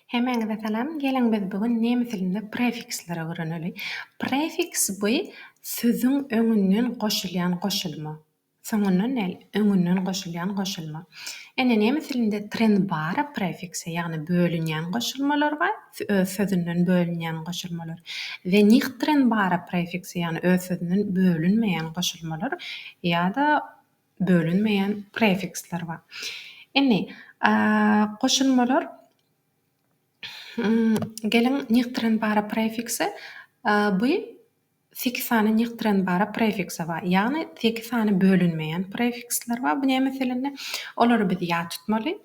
Hemäňize salam, geliň biz bu gün nemes dilinde prefiksleri öwreneli. Prefiks bu sözüň öňünden goşulýan goşulma. Soňundan däl, öňünden goşulýan goşulma. Ine nemes dilinde trennbare prefikse ýagny bölünýän goşulmalar bar, öz sözünden bölünýän goşulmalar we nichttrennbare prefikse ýagny öz sözünden bölünmeýän goşulmalar ýa-da bölünmeýän prefiksler bar. Indi, goşulmalar Geliň, nýgtrenbara prefiksi bu sekiz sany nýgtrenbara prefikse bar. Ýagny sekiz sany bölünmeýän prefiksler bar. Bu näme meselende? Olary biz ýat tutmaly.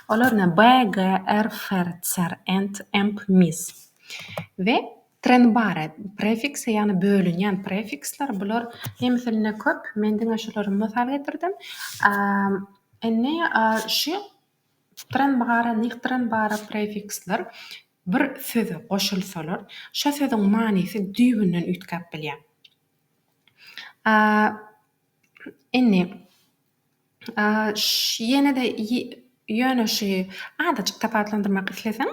Olar ne? BG, RFR, CR, END, EMP, MIS we. Trenbare, prefiksi, ýagny bölünýän prefiksler, bular hemesinde köp, men diňe şulary mysal getirdim. Indi şu trenbare, nichtrenbare prefiksler bir söze goşulsalar, şo sözüň manysy düýbünden üýtgäp bilýär. Indi. Ýene-de ýöne şu azajyk tapawutlandyrmak isleseň,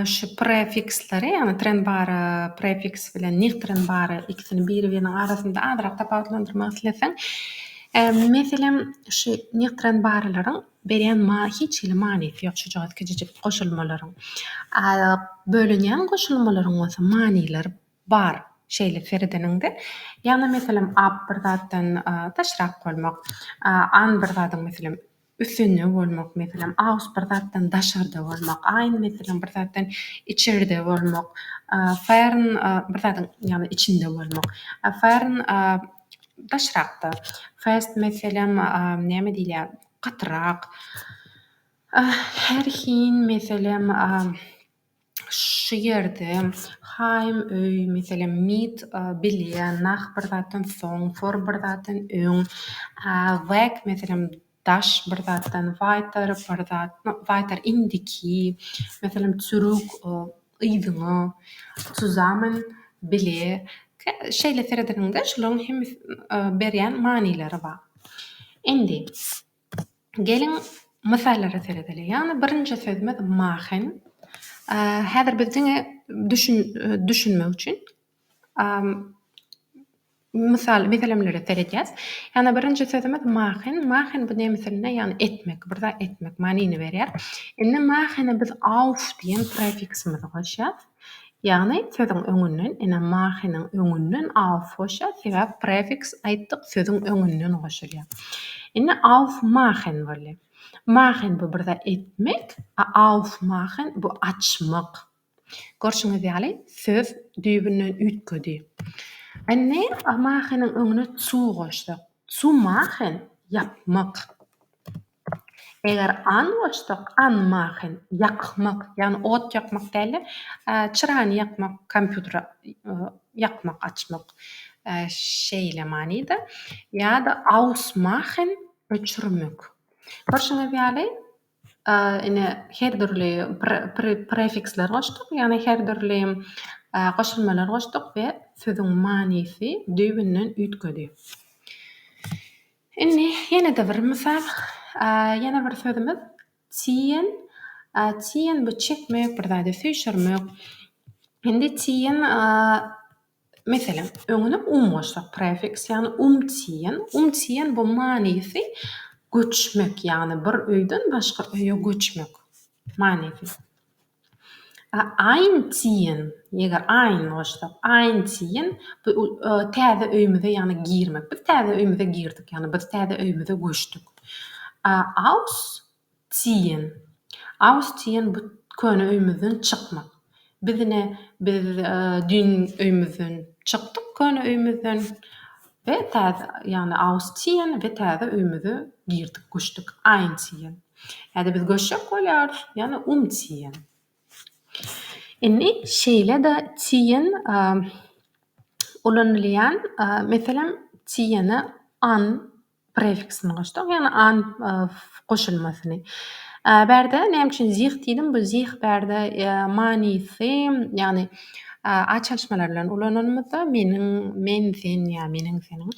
şu prefiksleri, ýagny tren-bara prefiks bilen nigtren-bara ikisini biri-biriniň arasynda azyrak tapawutlandyrmak isleseň, meselem, şu nigtren-baralaryň berýän hiç hili manysy ýok, şujagaz kiçijik goşulmalaryň. Bölünýän goşulmalaryň bolsa manylary Bar şeýle seredeniňde. Ýagny meselem ap bir zatdan daşrak bolmak, an bir zadyň meselem üstünde bolmak, meselem aus bir zatdan daşarda bolmak, ein meselem bir zatdan içerde bolmak, fern bir zadyň ýagny içinde bolmak, fern daşrakda, fest meselem näme diýilýär gatyrak, herhin meselem. Şu ýerde Haýym öý, meselem, Mit bilýä, Nah bir zatdan soň, Thor bir zatdan öň, Wag, meselem, daş bir zatdan, Waýtar bir zatdan, Waýtar indiki, meselem, Çürük yzyňa, Çuzamen bile. Şeýle seredeniňde, şolaryň hemmesin berýän manylary bar. Indi, Geliň, mysallara seredeliň. Ýagny birinji sözümiz mahin. Häzir biz diňe düşünmek üçin mysal meselemlere seredýäs. Ýagny birinji sözümiz mahin. Mahin bu nemes dilinde ýagny etmek, bir zat etmek manyny berýär. Indi mahine biz auf diýen prefiksimizi goşýas. Ýagny, sözüň öňünden, ine, mahynyň öňünden aufhoşa, sebäp prefiks aýtdyk, sözüň öňünden goşulýar. Indi aufmachen boldy. Machen bu bir zat etmek, a aufmachen bu açmak. Görşüňiz ýaly, söz düýbünden üýtgedi. Indi mahynyň öňüne zu goşsak, Zumachen, ýapmak. Eger anwurstok, anmachen, ýakmak, ýagny ot ýakmak däl-de, çyrany ýakmak, kompýuteri ýakmak, açmak şeýle manyda. Ýa-da ausmachen, öçürmek. Görşüňiz ýaly, A ine, her dürli prefiksler goşduk, ýagny her dürli goşulmalar goşduk we sözüň manysy düýbünden üýtgedi. Indi ýene-de bir mysal, ýene bir sözümiz tiýen. Tiýen bu çekmek, bir zady süýşürmek. Indi tiýen. Meselem, öňüne um goşsak, prefiks, ýagny um tiýen, um tiýen bu manysy göçmek, ýagny bir öýden başga öýe göçmek manysy. A aýn tiýen, eger aýn goşsak, aýn tiýen bu täze öýümize, ýagny girmek. Biz täze öýümize girdik, ýagny biz täze öýümize göçdük. A aus Diýen. Aus diýen bu köne öýümizden çykmak. Biz ine biz düýn öýümizden çykdyk köne öýümizden we täze ýagny aus ziehen we täze öýümize girdik göçdük einziehen. Häzir biz göçjek bolýarys ýagny umziehen. Indi şeýle-de ziehen ulanylýan meselem ziehene an Prefiksini goşduk, ýagny an goşulmasyny. Bärde näme üçin zih diýdim? Bu zih bärde manysy, ýagny a çalyşmalar bilen ulananymyzda meniň, men, sen ýa meniň, seniň.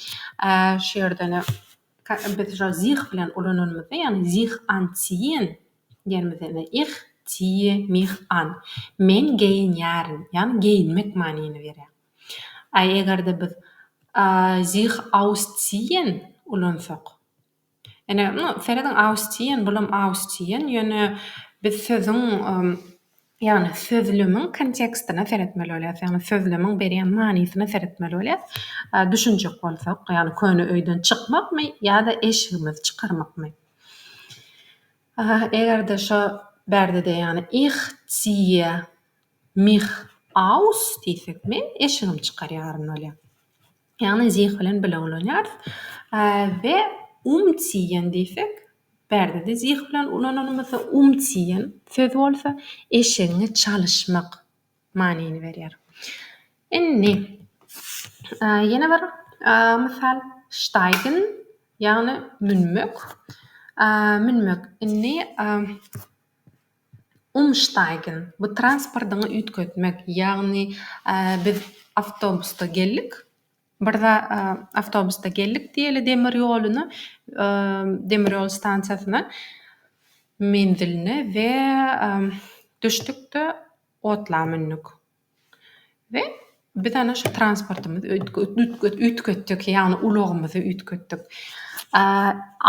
Şu ýerde-de biz şol zih bilen ulananymyzda, ýagny zih anziehen diýenimizde-de ih ziehe mich an. Men geýinýärin, ýagny geýinmek manyny berýär. A eger-de biz a sich ausziehen ulansak? Ine, ym, serediň, ausziehen, bulam ausziehen, ýöne biz sözüň, ýagny sözlemiň kontekstine seretmeli bolýarys, ýagny sözlemiň berýän manysyna seretmeli bolýarys. A düşünjek bolsak, ýagny köne öýden çykmakmy ýa-da eşigimizi çykarmakmy? A eger-de şo bärde-de, ýagny ich ziehe Mih aus diýsek, men eşigimi çykarýaryn bolýar. Ýagny zih bilen bile ulanýarys. We umziehen diýsek, bärde-de zih bilen ulananymyzda umziehen söz bolsa eşigiňi çalyşmak manyny berýär. Indi ýene bir mysal steigen ýagny münmek. Münmek indi Umsteigen, bu transportyňy üýtgetmek, ýagny biz awtobusda geldik, bir zat awtobusda geldik diýeli demir ýoluna, demir ýol stansiýasyna, menziline we düşdük-de otla mündük. We biz ana şu transportymyzy üýtgetdik, ýagny ulagymyzy üýtgetdik.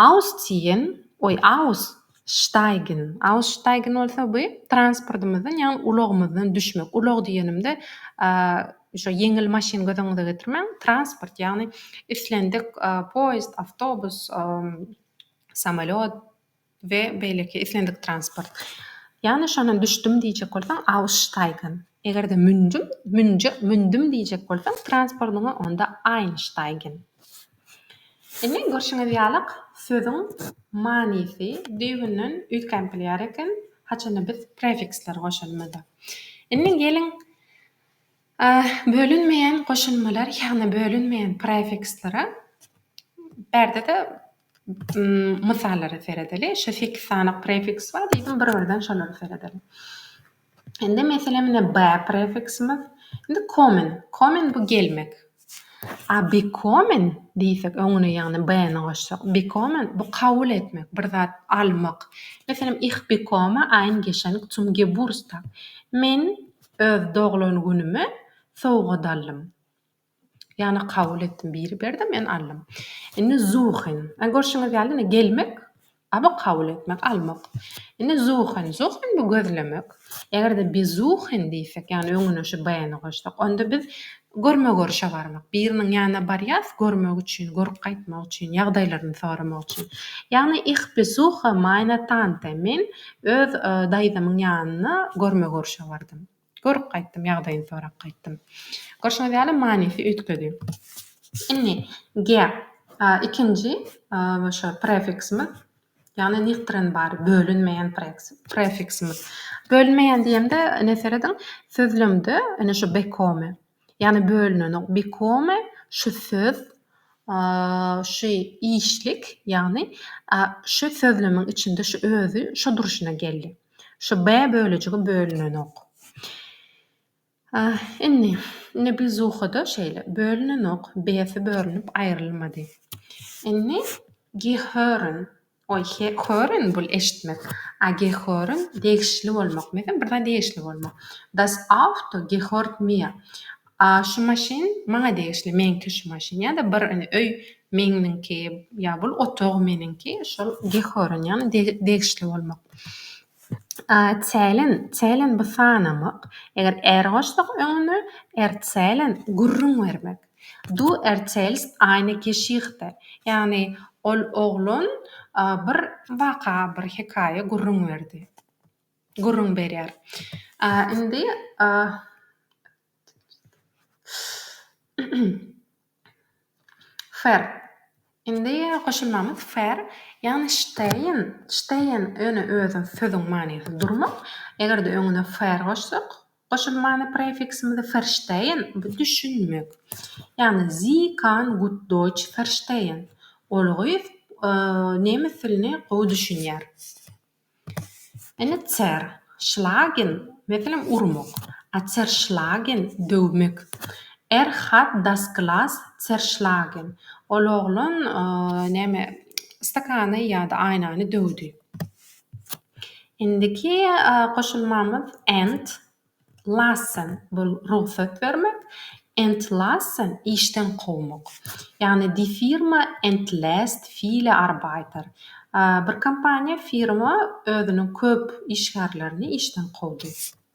Ausstiýen, oý, aussteigen, aussteigen bolsa bu transportymyzdan, ýagny ulagymyzdan düşmek. Ulag diýenimde şu ýeňil maşyn göz öňüňize getirmäň, transport, ýagny islendik poýezd, awtobus, samolýot, we beýleki islendik transport. Ýagny şondan düşdüm diýjek bolsaň aussteigen, eger-de mündüm, münje, mündüm diýjek bolsaň transportyňa onda einsteigen. Indi görşüňiz ýalyk sözüň manysy düýbünden üýtgänp bilýär eken, haçanda biz prefiksleri goşulmada. Indi geliň bölünmeýän goşulmalar, ýagny bölünmeýän prefikslere. Bärde-de Mysallara seredeli. Şu sekiz sany prefiks bar diýdim, bir-birden şolara seredeli. Indi meselem ine be prefiksimiz. Indi kommen. Kommen bu gelmek. A bekommen diýsek, öňüne ýagny be-ni goşsak, bekommen bu kabul etmek, bir zat almak. Meselem, ich bekomme ein Geschenk zum Geburtstag. Men öz doglan günüme sowgat aldym. Ýagny kabul etdim biri berdi men aldym. Indi suchen. Ä görşüňiz ýaly indi gelmek a bu kabul etmek almak. Indi suchen. Suchen bu gözlemek. Eger-de besuchen diýsek ýagny öňüne şu bäni goşsak onda biz görme görşe barmak. Biriniň ýanyna barýas görmek üçin görüp gaýtmak üçin ýagdaýlaryny soramak üçin. Ýagny ich besuche meine Tante men öz daýzamyň ýanyna görme görşe bardym. Görüp gaýtdym, ýagdaýyny sorap gaýtdym. Görşüňiz ýaly, manysy üýtgedi. Indi ge, ikinji şo prefiksimiz, ýagny niktirin bar, bölünmeýän prefiksimiz. Bölünmeýän diýemde, ine, serediň, sözlemde, ine, şu bekomy, Ýagny bölünenok become şu söz şu işlik ýagny şu sözlemiň içinde şu özi şu durşuna geldi. Şu be bölejigi bölünenok. Indi indi bilzuhada şeýle bölünenok besi bölünip aýrylmady. Indi gehören Oý, hören bul eşitmek. A gehören degişli bolmak. Menem bir zat degişli bolmak. Das Auto gehört mir. A şu maşyn maňa degişli, meňki şu maşyn. Ýa-da bir indi öý meňniňki ýa bul otag meniňki. Şol gehören ýagny degişli bolmak. A zählen, zählen bu sanamak. Eger är goşsak öňüne, erzählen gürrüň bermek. Du erzählst eine Geschichte, ýagny ol oglan bir waka, bir hekaýa gürrüň berdi, gürrüň berýär. Indi Fer. Indi goşulmamyz fer, ýagny stehen, stehen ýöne özüň sözüň manysy durmak. Eger-de öňüne fer goşsak, Goşulmany prefiksimizi ferşteýn, bu düşünmek. Ýagny Sie kann gut Deutsch verstehen, ol gyz nemes dilini gowy düşünýär. Ine zer, schlagen, meselem urmak. A zerschlagen, döwmek. Er hat das Glas zerschlagen, ol oglan näme, stakany ýa-da aýnany döwdi. Indiki goşulmamyz ent lassen bul rugsat bermek, entlassen işden kowmak. Ýagny die Firma entlässt viele Arbeiter. Bir kompaniýa, firma özüniň köp işgärlerini işden kowdy.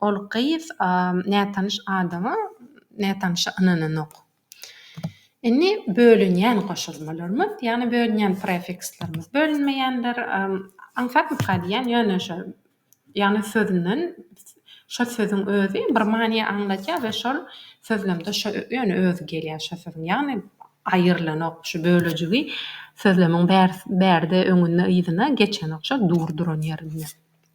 Ol gyz nätanyş adama nätanyşa ynananok. Indi bölünýän goşulmalarymyz, ýagny bölünýän prefikslerimiz, bölünmeýänler aňsatmyka diýýän, ýöne şol, ýagny sözünden şo sözüň özi bir many aňladýar we şol sözlemde şo ýöne özi gelýär şo sözüň, ýagny aýrylanok, şu bölejigi sözlemiň bärde öňünde-yzyna geçenok, şo dur duran ýerinde.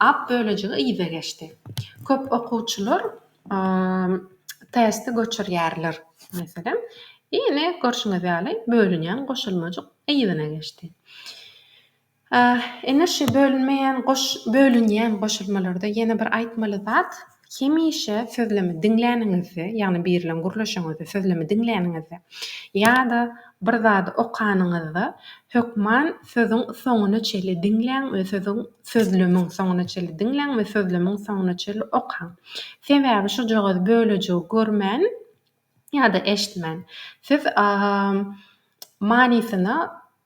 Ap bölejigi yza geçdi. Köp okuwçylar testi göçürýärler, meselem. Ine, görşüňiz ýaly, bölünýän goşulmajyk yzyna geçdi. Ine, şu bölünmeýän, bölünýän goşulmalarda ýene bir aýtmaly zat, Hemişe sözlemi diňläniňizde, ýagny biri bilen gürleşeňizde, sözlemi diňläniňizde ýa-da bir zady okanyňyzda hökman sözüň soňuna çenli diňläň we sözüň, sözlemiň soňuna çenli diňläň we sözlemiň soňuna çenli okaň. Sebäbi şujagaz bölejigi görmän ýa-da eşitmän siz manysyna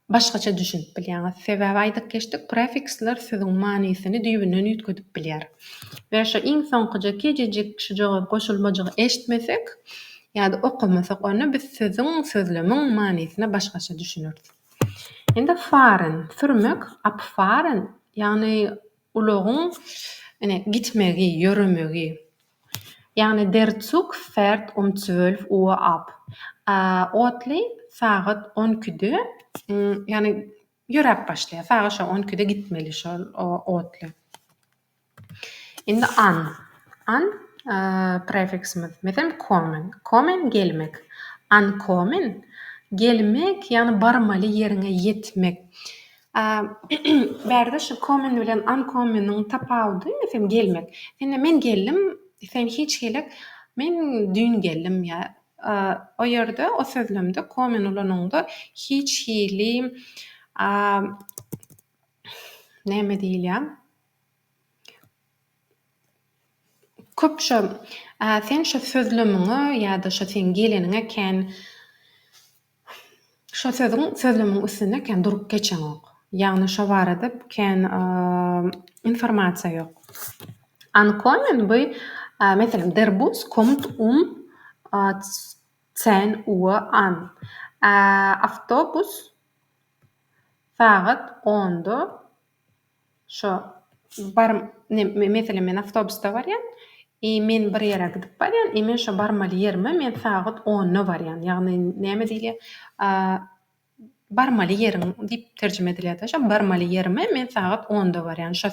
başgaça düşünip bilýäňiz. Sebäbi aýdyp geçdik, prefiksler sözüň manysyny düýbünden üýtgedip bilýär. We şu iň soňkuja kejejik şu jogap goşulmajygy eşitmesek ýa-da okamasak onda biz sözüň, sözlemiň manysyna başgaça düşüneris. Indi fahren, sürmek, abfahren, ýagny ulagyň ine gitmegi, ýöremegi. Ýagny Der Zug fährt um zwölf Uhr ab. Otly sagat on ikide, ýagny ýöräp başlaýar. Sagat şo on ikide gitmeli şol otly. Indi an. An prefiksimiz. Meselem, kommen. Kommen, gelmek. Ankommen, gelmek, ýagny barmaly ýeriňe ýetmek. Bärde şu kommen bilen ankommeniň tapawudy meselem gelmek. Indi men geldim, sen hiç gelek, men düýn geldim ýa o ýerde o sözlemde kommen ulanyňda hiç hili näme diýilýä köp şo sen şo sözlemiňe ýa-da şo seň geleniňe kän Şo sözüň sözlemiň üstünde kän durup geçeňok. Ýagny şo barada kän informasiýa ýok. Ankommen by meselem der bus kommt um zehn uhr an. Awtobus sagat onda Şo bar meselem men awtobusda barýan i men bir ýere gidip barýan i men şo barmaly ýerime men sagat onda barýan ýagny näme diýilýär a barmaly ýeriň diýip terjime edilýär-de şo barmaly ýerime men sagat onda barýan şo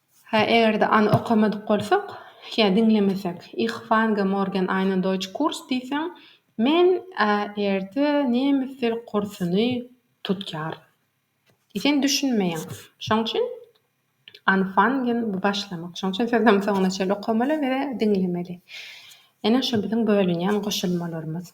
Hä, eger-de any okamadyk bolsak ýa diňlemesek, Ich fange morgen einen Deutsch Kurs diýseň, Men ä-erde nemes dil kursuny tutýaryn. Sen düşünmeýäň. Şoň üçin anfangen, bu başlamak. Şoň üçin sözem soňuna çenli okamaly we diňlemeli. Ine, şu biziň bölünýän goşulmalarymyz.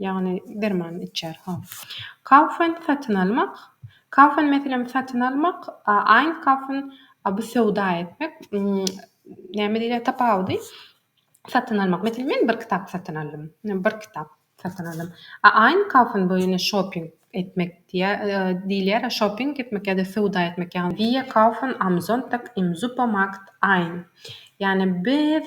Ýagny dermanyny içýär. Hol. Kaufen satyn almak. Kaufen meselem satyn almak, einkaufen bu söwda etmek. Näme diýilýär tapawudy? Satyn almak. Meselem men bir kitap satyn aldym. Men bir kitap satyn aldym. Einkaufen bu ýene şoping etmek diýilýär. Şoping etmek ýa-da söwda etmek ýagny. Wir kaufen am Sonntag im Supermarkt ein. Ýagny biz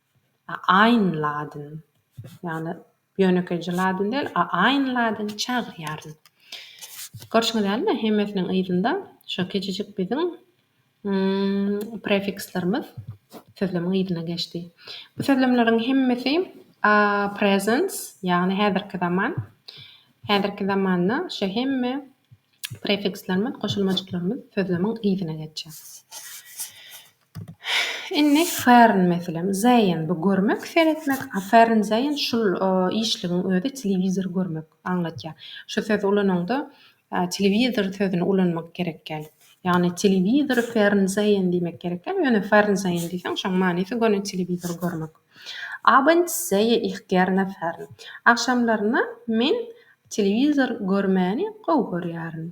Aýn ladin, ýagny ýönekeýje ladin däl, aýn ladin çagyrýaryn. Görşüňiz dälmi, hemmesiniň yzynda şu kiçijik biziň prefikslerimiz sözlemiň yzyna geçdi. Bu sözlemleriň hemmesi presens, ýagny häzirki zaman. Häzirki zamanda şu hemme prefikslerimiz, goşulmajyklarymyz sözlemiň yzyna geçýär. Indi fern meselem zeýin bu görmek seretmek a fern zeýin şul işligiň özi telewizor görmek aňlatýar. Şu sözi ulanaňda telewizor sözüni ulanmak gerek gel. Ýagny telewizor fern zeýin diýmek gerek gel. Ýöne fern zeýin diýseň şoň manysy göni telewizor görmek. Abends zeýe ich gerne fern. Agşamlaryna men telewizor görmäni gowy görýärin.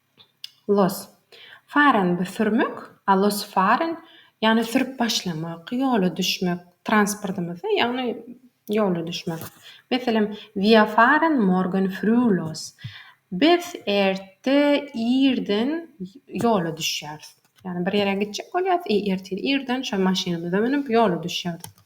Los. Fahren bu sürmek, a los fahren ýagny sürüp başlamak, ýola düşmek, transportymyzy ýagny ýola düşmek. Meselem, Wir fahren morgen früh los. Biz erte irden ýola düşýäris. Ýagny bir ýere gitjek bolýarys, irden şol maşynymyza münüp ýola düşýäris.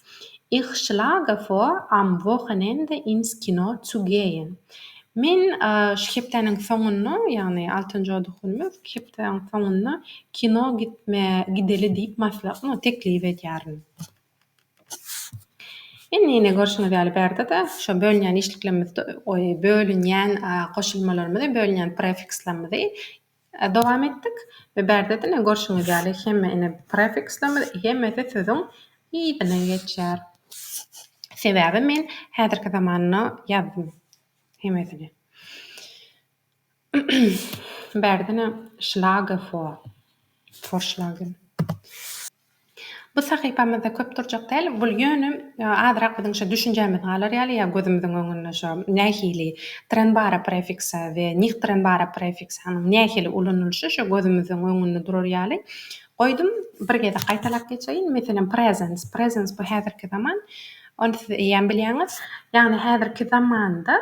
Ich schlage vor am Wochenende ins Kino zu gehen. Men şu hepdäniň soňunda, ýagny altynjy oda günümiz, hepdäniň soňunda kino gitme gideli diýip maslahat, no, teklip edýärin. Indi ýene görşüňiz ýaly bärde-de şo bölünýän işliklerimizi, oý, bölünýän goşulmalarymyzy, bölünýän prefikslerimizi Dowam etdik we bärde ine görşüňiz ýaly hemme ine prefikslerimiz hemmesi sözüň yzyna geçýär. Sebäbi men häzirki zamanyna ýazdym hemmesini. Bärde ine schlage vor, vorschlagen. Bu sahypamyzda köp durjak däl, bul ýöne azyrak biziň şo düşünjämiz galar ýaly ýa gözümiziň öňünde şo nähili trenbara prefiksa we nihtrenbara prefiksanyň nähili ulanylyşy şo gözümiziň öňünde durar ýaly goýdum. Bir gezek gaýtalap geçeýin, meselem, prezens, prezens bu häzirki zaman, ony siz eýýäm bilýäňiz. Ýagny häzirki zamanda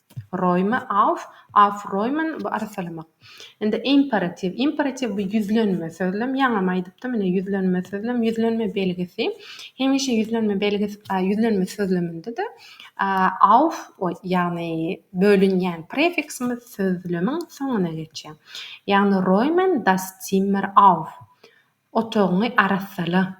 Roýme, auf, aufräumen, bu arsalamak. Indi imperatiw. Imperatiw bu ýüzlenme sözlem. Ýaňam aýdypdym, ine ýüzlenme sözlem, ýüzlenme belgisi. Hemişe ýüzlenme belgisi, a, ýüzlenme sözleminde-de, a, auf, o, ýagny bölünýän prefiksimiz sözlemiň soňuna geçýär. Ýagny, Roýmen das Zimmer auf. Otagyňy arassala.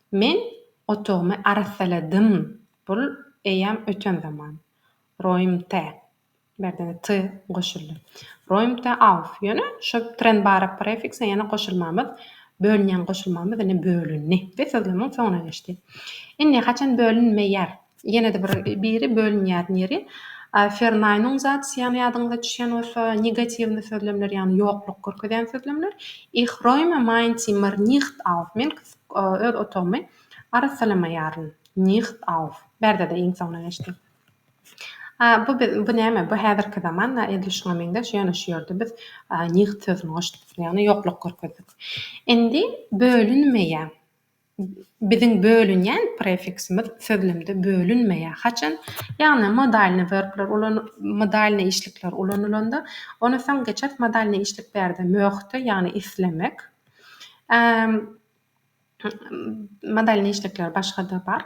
Men otagymy arassaladym. Bul eýýäm öten zaman. Roýmte. Bu ýerde-de ty goşuldy. Roýmte auf. Ýöne şu trenbarak prefikse ýene goşulmamyz, bölünýän goşulmamyz ine bölündi we sözlemiň soňuna geçdi. Indi haçan bölünmeýär? Ýene-de bir biri bölünýän ýeri Ferneinungsatzýan ýadyňyza düşýän bolsa negatiwny sözlemler ýagny ýokluk görkezýän sözlemler Ich räume mein Zimmer nicht auf men öz otagymy arassalamaýaryn nicht auf bärde-de iň soňuna geçdi bu biz bu näme bu häzirki zaman da edil şuňa meňzeş ýöne şu ýerde biz nicht sözüni goşduk ýagny ýokluk görkezdik indi bölünmeýän Biziň bölünýän prefiksimiz sözlemde bölünmeýär. Haçan, ýagny modalny werbler ulan modalny işlikler ulanylanda, ony soň geçer modalny işlik bärde möhde, ýagny islemek, modalny işlikler başga-da bar.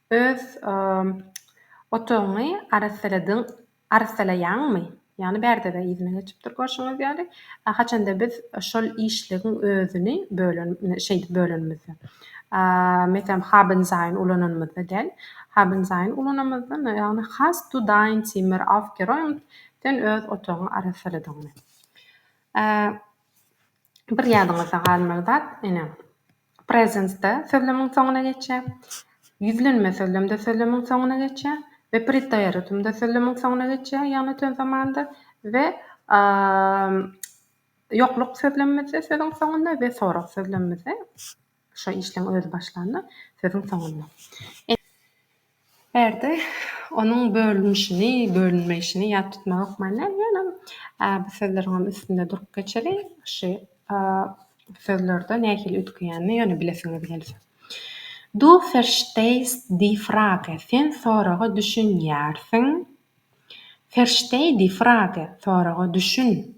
Öz otagyňy arassaladyň, arassalaýaňmy? Ýagny bärde-de yzyna geçip dur görşüňiz ýaly. Haçanda biz şol işligiň özüni bölen, şeýdip bölenimizde. Meselem, haben sein ulananymyzda däl. Haben sein ulananymyzda, ýagny hast du dein Zimmer aufgeräumt? Sen öz otagyňy arassaladyňmy? Bir ýadyňyzda galmaly zat, ine, Presensde sözlemiň soňuna geçýär. Ýüzlenme sözlemde sözlemiň soňuna geçýär we pretdýaritmde sözlemiň soňuna geçýär, ýagny tön zamanda we ýokluk sözlemimizde sözüň soňunda we sorag sözlemimizde şo işleň özi başlanda sözüň soňunda. Bu ýerde onuň bölünişini, bölünmeýşini ýat tutmaga hökmanda ýöne bu sözleriňem üstünde durup geçeli. Şu sözlerde nähili üýtgeýänini ýöne bilesiňiz gelse. Du verstehst die Frage, sen soraga düşünýärsiň. Versteh die Frage, soraga düşün.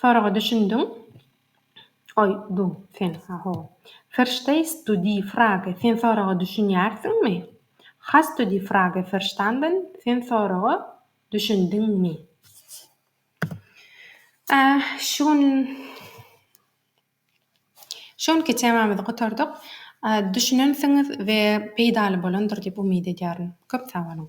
Soraga düşündiň? Oý, du, sen, ha, ho. Verstehst du die Frage, sen soraga düşünýärsiňmi? Hast du die Frage verstanden, sen soraga düşündiňmi? A, şu gün, şu günki temamyzy gutardyk. Düşünensiňiz we peýdaly bolandyr diýip umyt edýärin. Köp sag boluň!